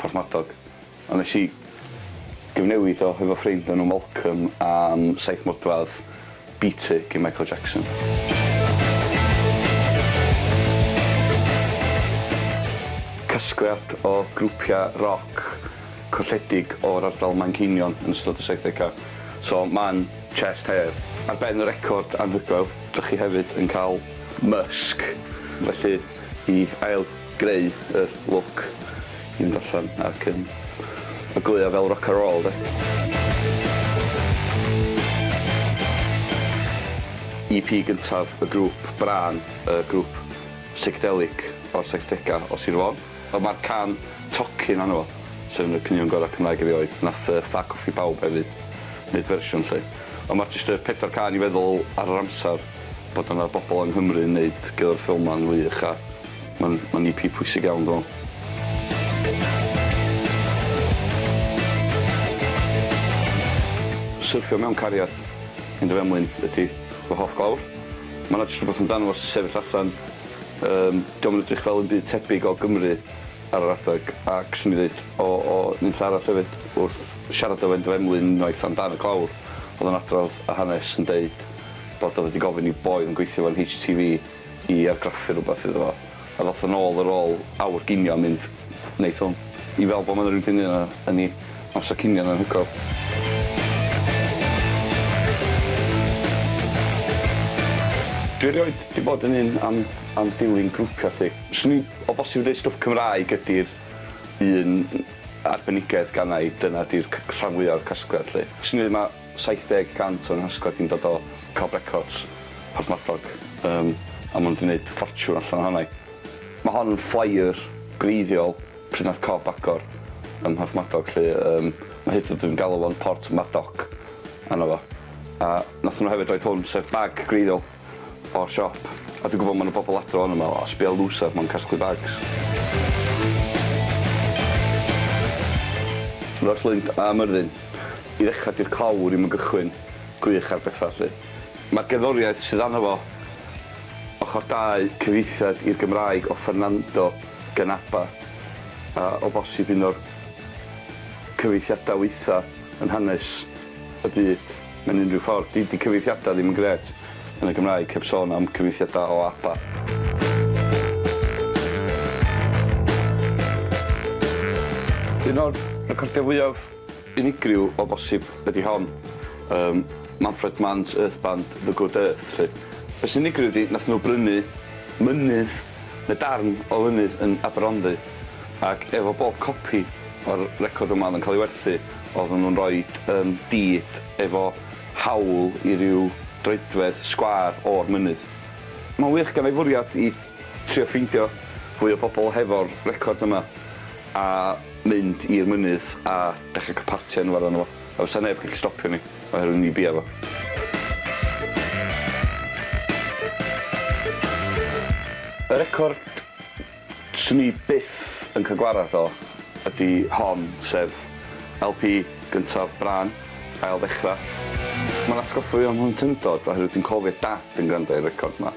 Porthmadog, ond nes i gyfnewid o efo ffrind enw Malcolm am saith modfedd Beat It gin Michael Jackson. Casgliad o grwpiau roc colledig o'r ardal Manceinion yn ystod y saithdegau, so man chest hair. Ar ben y record anhygoel, dych chi hefyd yn cael mysg, felly. i ail greu yr look i fynd allan ac yn ogleuo fel rock a roll 'de. EP gyntaf y grŵp, Brân, y grŵp psychedelic o'r saithdegau o Sir Fôn. Wel ma'r can tocyn arno fo, sef un o'r caneuon gorau Cymraeg erioed. Nath yy Ffac Coffî Bawb hefyd neud fersiwn 'lly. Ond ma'r jyst y pedwar cân i feddwl ar yr amser. Bod yna bobl yng Nghymru yn neud gyda'r ffilm ma'n wych a ma'n ma'n EP pwysig iawn dwi me'wl. Syrthio mewn cariad yn dy fenblin ydi fy hoff glawr. Ma' 'na jyst rwbeth amdano fo sy'n sefyll allan yym 'di o'm yn edrych fel 'im byd tebyg o Gymru ar yr adeg ac swn i'n ddeud o o nunlle arall efyd wrth siarad efo un dy fenblin unwaith amdan y glawr o'dd o'n adrodd y hanes yn deud Bod o wedi gofyn i'w boi yn gweithio fel HTV i argraffu rhywbeth iddo fo. A ddoth yn ôl ar ôl awr ginio a mynd, Neith hwn. I fel bo ma na rywun di neud o yn i amsar cinio'n anhygoel. Dwi erioed di bod yn un am am dilyn grwpia thing. Swn i o bosib yn deud stwff Cymraeg ydi'r un arbenigedd gana i dyna di'r c- rhan fwya o'r casgliad lly. Swn i ddeud ma' 70 cant o'n hasgwrn ni'n dod o Cob Records, Porthmadog, yym a ma' nhw 'di neud ffortiwn allan ohona i. Ma' hon yn flyer gwreiddiol pryd nath Cob agor ym Mhorthmadog 'lly, yym ma' hyd yn o'd yn galw fo'n Port Madoc arno fo. A nathon nhw hefyd roid hwn, sef bag gwreiddiol. o'r siop a dwi'n gwybod ma' 'na bobl adra wan yn meddwl o sbia lŵsar mewn casglu bags. Ross Lind a Myrddin. I ddechrau dy'r clawr i'm yn gychwyn gwych ar bethau 'lly. Mae'r gerddoriaeth sydd arno fo, ochr dau cyfieithiad i'r Gymraeg o Fernando gan Abba a o bosib un o'r cyfieithiadau waetha yn hanes y byd. Mewn unrhyw ffordd, di di cyfieithiadau ddim yn grêt yn y Gymraeg, heb sôn am cyfieithiadau o APA. Un o'r recordiau fwyaf unigryw o bosib ydy hon, um, Manfred Mann's Earth Band, The Good Earth. Felly. Beth sy'n unigryw ydy, nath nhw brynu mynydd Mae darn o lynydd yn Aberhonddu ac efo bob copi o'r record yma oedd yn cael ei werthu oedden nhw'n rhoi yym deed efo hawl i ryw droedfedd sgwâr o'r mynydd. Mae'n wych ganddo i fwriad i trio ffeindio fwy o bobl hefo'r record yma a mynd i'r mynydd a dechrau cael parti ynddo fo a fysa neb yn gallu stopio ni. Oherwydd mi bia fo. Y record 'swn i byth yn cael gwarad o ydi hon, sef LP gyntaf Brân, Ail Ddechra'. Mae'n atgoffa fi o'm mhlentyndod oherwydd dwi'n cofio Dad yn gwrando i'r record 'ma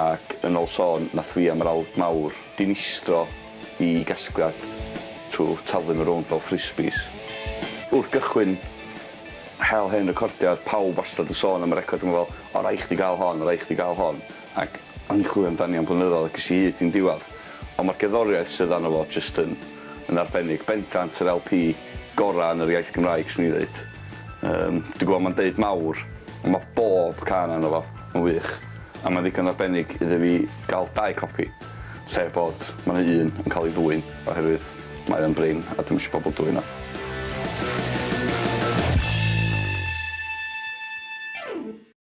ac yn ol sôn nath fi am yr awd mawr dinistro i gasgliad trwy taflu nhw rownd fel frisbees. Wrth gychwyn hel hen recordiau oedd pawb wastad yn sôn am y record yma fel 'o rhaid chdi gael hon, o rhaid chdi gael hon' ac o'n i'n chwilio amdani am blynyddoedd ac es i hyd i'n diwedd. Ond mae'r gerddoriaeth sydd arno fo jyst yn yn arbennig. Bendant yr LP gorau yn yr iaith Gymraeg 'swn i'n ddeud. Yym dwi'n gwybod mae'n deud mawr ond mae bob cân arno fo yn wych a mae'n ddigon arbennig iddo fi gael dau copi. lle bod ma' 'na un yn ca'l ei ddwyn oherwydd mae o'n brin a dwi'm isio pobol dwyn o.